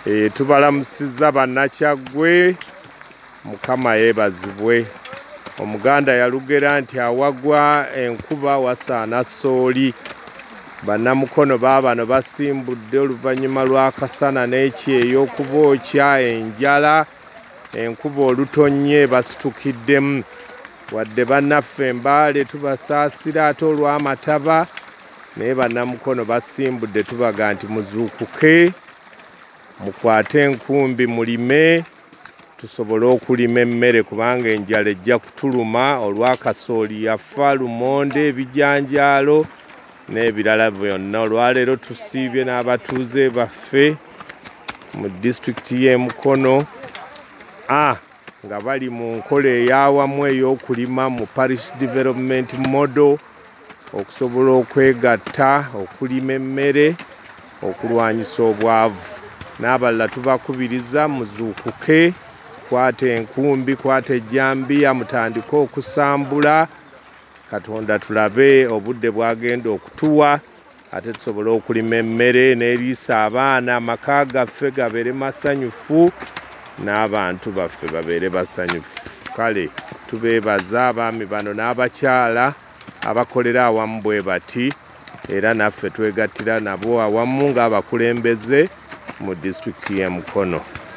Eh, tubalamusiza bannakyaggwe mukama yeebazibwe omuganda yalugera nti awagwa enkuba wasaana sooli bannamukono baabano basimbudde oluvannyuma lw'akasana n'ekyeyo okuba okya enjala enkuba olutonnye basitukiddemu wadde bannaffe mbaale tubasaasira ate olw'amataba naye banamukono basimbudde tubaga nti muzuukuke mukwate enkumbi mulime tusobole okulima emmere kubanga enjala ejja kutuluma olwakasooli yafa lumonde ebijanjaalo n'ebirala byonna olwaleero tusiibye n'abatuuze baffe mu disitulikiti y'emukono a ah, nga bali mu nkola eyawamu ey'okulima mu parish development model okusobola okwegatta okulima emmere okulwanyisa obwavu n'abalala tubakubiriza muzuukuke kwata enkumbi kwata ejjambiya mutandike okusambula katonda tulabe obudde bwagenda okutuwa ate tusobole okulima emmere n'eriisa abaana amaka gaffe gabeere masanyufu n'abantu baffe babeere basanyufu kale tubeebaza abaami bano n'abakyala abakolera awamu bwe bati era naffe twegattira nabo awamu ng'abakulembeze mu disitulikiti y'e mukono